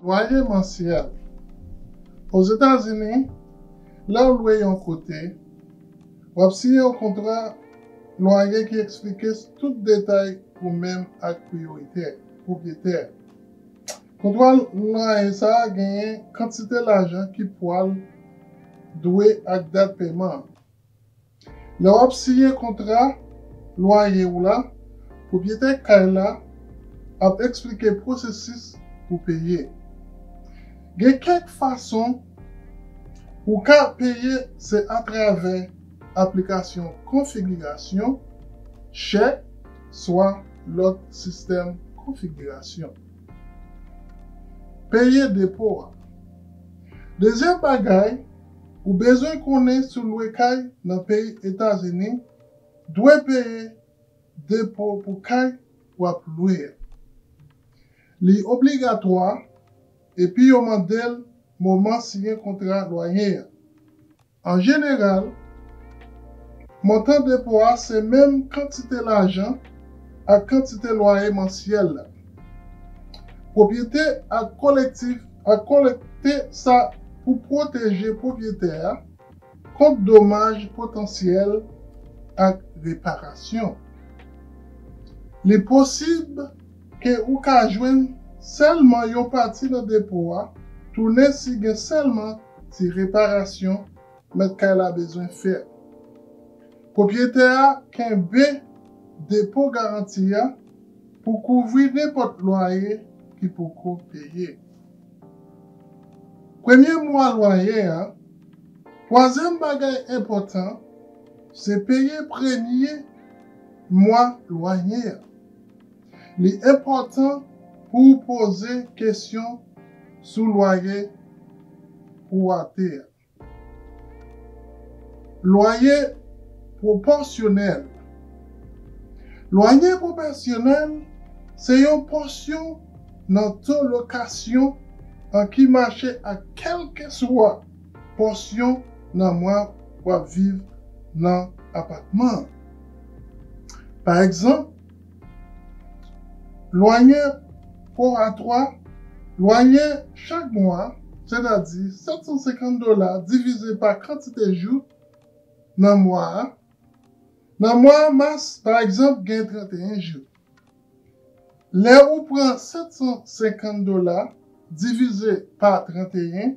Lwaye mansyèl. Ozetazini, lè w lwe yon kote, w ap siyen yon kontra lwaye ki eksplike tout detay ou menm ak pwopriyetè a. Konprann mwayen sa a genyen kantite lajan ki pwal dwe ak dat peman an. Lè w ap siyen kontra lwaye w la, pwopriyetè kay la ap eksplike pwosesis pou peye. Gen kèk fason ou ka peye se atravè aplikasyon konfigirasyon, chèk, swa lòt sistèm konfigirasyon. Peye depo a. Dezyèm bagay ou bezwen konnen sou lwe kay nan peyi Etazini, dwe peye depo pou kay w ap lwe a. Li obligatwa epi yo mande l moman siyen kontra lwaye a. An jeneral, montan depo a se menm kantite lajan ak kantite lwaye mansyèl la. Pwopyete ak kolektif a kolekte sa pou pwoteje pwopyetè a kont domaj potansyèl ak reparasyon. Li posib ke ou ka jwenn sèlman yon pati nan depo a tounen si gen sèlman Ti reparasyon mèt kay la bezwen fè. Pwopriyetè a kenbe depo garanti a pou kouvri nenpòt lwaye ki poko peye. Premye mwa lwaye a. Twazyèm bagay enpòtan se peye premye mwa lwaye a. Li enpòtan pou ou poze kesyon sou lwaye pou w ate a. Lwaye pwopòsyonèl Lwaye pwopèsyonèl se yon pòsyon nan to lokasyon an ki mache ak kèlkeswa pòsyon nan mwa w ap viv nan apatman an. Pa egzanp. Lwaye pworatwa, Lwaye chak mwa, sètadi 750 dola divize pa kantite jou nan mwa a. Nan mwa mas, pa egzanp, gen 31 jou. Lè ou pran 750 dola divize pa 31,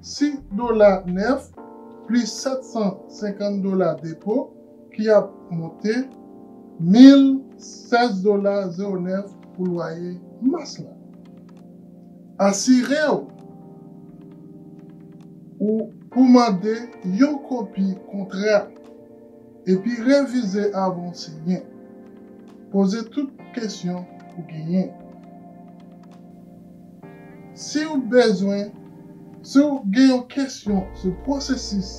Si dola nèf plis 750 dola depo ki ap monte 1016 dola 09 pou lwaye mas la. Asire w ou pou mande yon kopi kontra epi revize avan w siyen. Poze tout kesyon ou genyen. Siw bezwen, siw gen yon kesyon sou pwosesis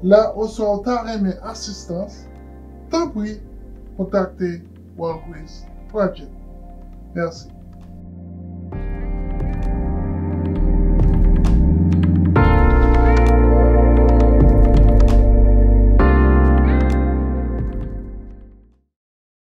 la oswa ou ta renmen asistans, tanpri kontakte Walgrace Project. Mèsi.